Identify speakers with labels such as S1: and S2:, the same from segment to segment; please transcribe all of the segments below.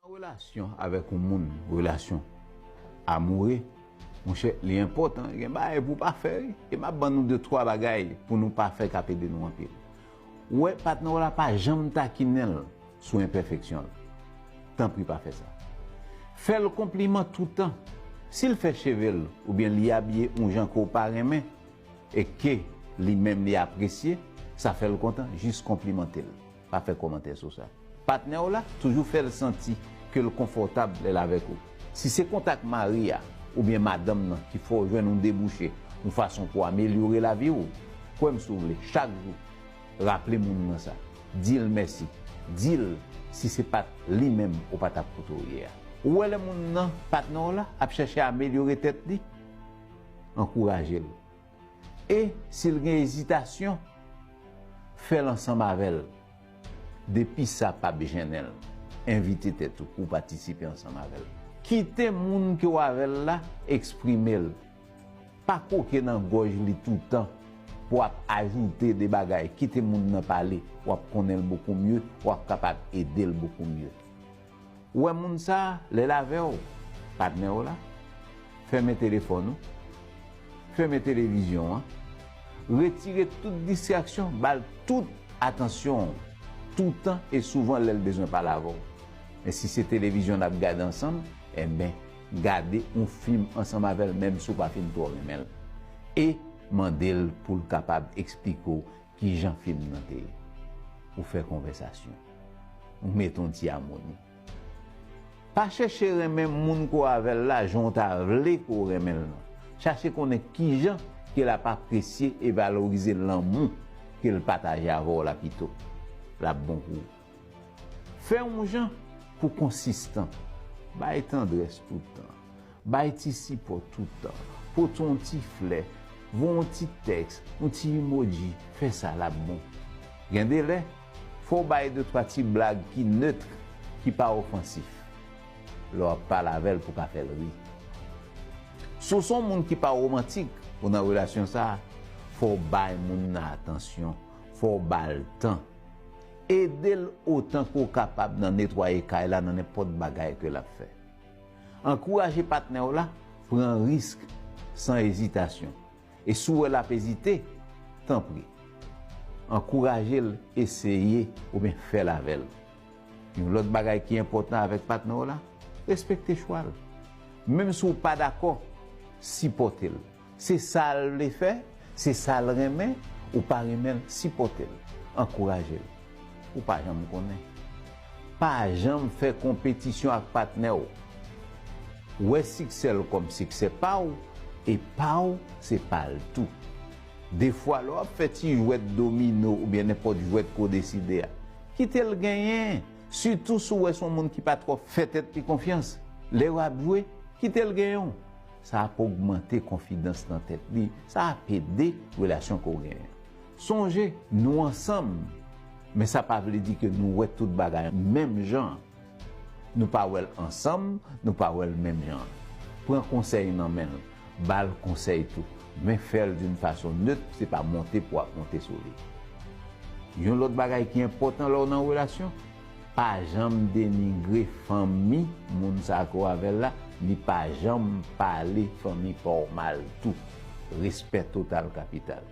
S1: Nan relasyon avèk yon moun, relasyon amoure, monchè li enpòtan gen bagay pou w pa fè wi. E m ap ban nou de twa bagay pou nou pa fè k ap ede nou anpil. Wè patnè w la pa janm takinen l. sou enpèfeksyon l. Tanpri pa fè sa. Fè l konpliman toutan. Si l fè cheve l oubyen li abiye yon jan ke w pa renmen e ke li menm li apresye, sa fè l kontan, jis konplimante l. Pa fè kòmantè sou sa. Patnè w la, toujou fè l santi ke l konfòtab lè l avèk ou. Si se kont ak mari a oubyen madanm nan ki fè w jwenn yon debouche, yon fason pou w amelyore lavi w, kwè m si w vle, chak jou, Raple moun nan sa. Di l mèsi. Di l si se pa t li menm ou pa t ap kote w ye a. Ou wè lè moun nan, patnè w la, ap chèche amelyore tèt li, ankouraje l. E, si l gen ezitasyon, fè l ansanm avè l. Depi sa pa p jennen l, envite tèt ou pou w patisipe ansanm avè l. Kite moun ke w avè l la eksprime l. Pa kwoke nan gòj li toutan pou ap ajoute de bagay, kite moun nan pale, w ap konnen l bokou mye, w ap kapab ede l bokou mye. Ou wè moun sa, lè l avè w, patnè w la, fèmen telefòn ou, fèmen televizyon an, retire tout distraksyon, ba l tout atansyon w, toutan e souvan lè l bezwen pale avè w. Men si se televizyon n ap gade ansanm, enben. Gade yon fim ansanm avè l menm si w pa fin twò renmen l e mande l pou l kapab eksplike w ki jan fim nan te ye. Ou fè konvèsasyon. Ou mete yon ti amoni. Pa chèche renmen moun ke w avè l la jan w ta vle ke w renmen l nan. Chache konnen ki jan ke l ap apresye e valorize lanmou ke l pataje avè w la pito l ap bon pou ou. Fè yon jan pou konsistan. Bay tandrès toutan. Bay ti sipò toutan. Pote yon ti flè. Voye yon ti tèks, yon ti emoji. Fè sa l ap bon. Gen de lè, fò w bay de twa ti blag ki neutre, ki pa ofansif, lè w ap pale avè l pou w ka fè l ri. Si w se yon moun ki pa womantik, ou nan relasyon sa a, fò w bay moun nan atansyon, fò w ba l tan. Ede l otan ke w kapab nan netwaye kay la nan nenpòt bagay ke l ap fè. Ankouraje patnè w la pran risk san ezitasyon, e si w wè l ap ezite, tanpri, ankouraje l eseye oubyen fè l avè l. Yon lòt bagay ki enpòtan avèk patnè w la, respekte chwa l. Menm si w pa dakò, sipòte l. Se sal vle fè, se sal renmen, ou pa renmenl sipòtel, ankourajel. Ou pa janm konnen. Pa janm fè konpetisyon ak patnèw. Wè siksèl kòm siksè paw e paw se pal tou. Defwa lè wap fè ti jwèt domino oubyen nenpòt jwèt ke w deside a, kitel genyen, sitou si w wè se yon moun ki pa twò fè tèt li konfyans, lè wap jwe, kitel genyen w. Sa ap ogmante konfidans nan tèt li, sa ap ede relasyon ke w genyen an. Sonje, nou ansanm, men sa pa vle di ke nou wè tout bagay menm jan an. Nou pa wè l ansanm, nou pa wè l menm jan an. Pran konsèy nan men l, ba l konsèy tou, men fè l d'une façon neutre, se pa monte pou w ap monte sou li. Yon lòt bagay ki enpòtan lè w nan relasyon, Pa janm denigre fanmi moun sa ke w avèl la, ni pa janm pale fanmi pa w mal tou. Respè total kapital.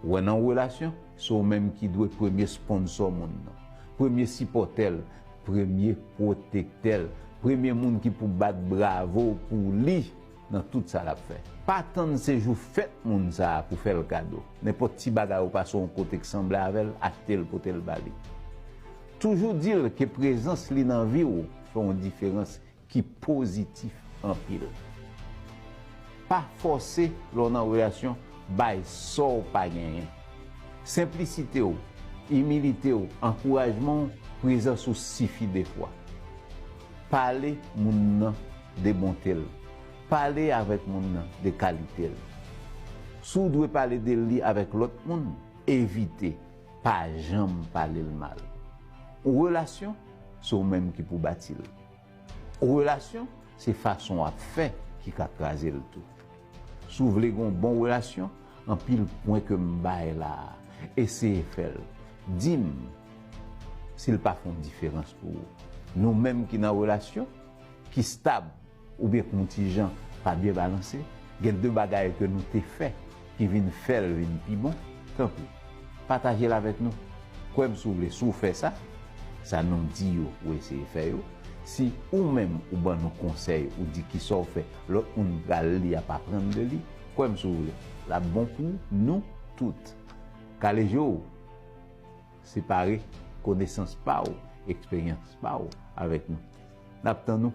S1: Ou wè nan yon relasyon, se w menm ki dwe premye sponsò moun nan, premye sipòtè l, premye pwotektè l, premye moun ki pou bat bravo pou li. nan tout sa lap fè. Pa tann se jou fèt moun sa pou fèl kado. Nenpòt ti bagay ou pase yon kote k sanble avèl achte l pote l ba li. Toujou di l ke prezans li nan vi w fè yon diferans ki pozitif anpil. Pa fòse lè w nan relasyon bay sa w pa genyen. Senplisite w, imilite w, ankourajman w, prezans ou sifi defwa. Pale moun nan de bonte l. Pale avèk moun nan de kalite l. Si w dwe pale de li avèk lòt moun, evite, pa janm pale l mal. Yon relasyon, se ou menm ki pou bati l. Yon relasyon, se fason w ap fè ki ka kraze l tou. Si w vle gen yon bon relasyon, anpil pwen ke m bay la a, eseye fè l. Di m si l pa fè yon diferans pou ou. Nou menm ki nan relasyon, ki stab oubyen kontijan pa byen balanse, gen de bagay ke nou te fè ki vin fèl vin pi bon, tanpri patajel avèk nou, kwèm si w vle si w fè sa, sa nou di yo ou eseye fè yo, si ou menm ou ban nou konsèy ou di kisa w fè lòt moun pral li ap aprann de li, kwèm si w vle lap bon pou nou tout. Kale je w! Separe konesans pa ou, eksperyans pa ou avèk nou. N ap tann ou!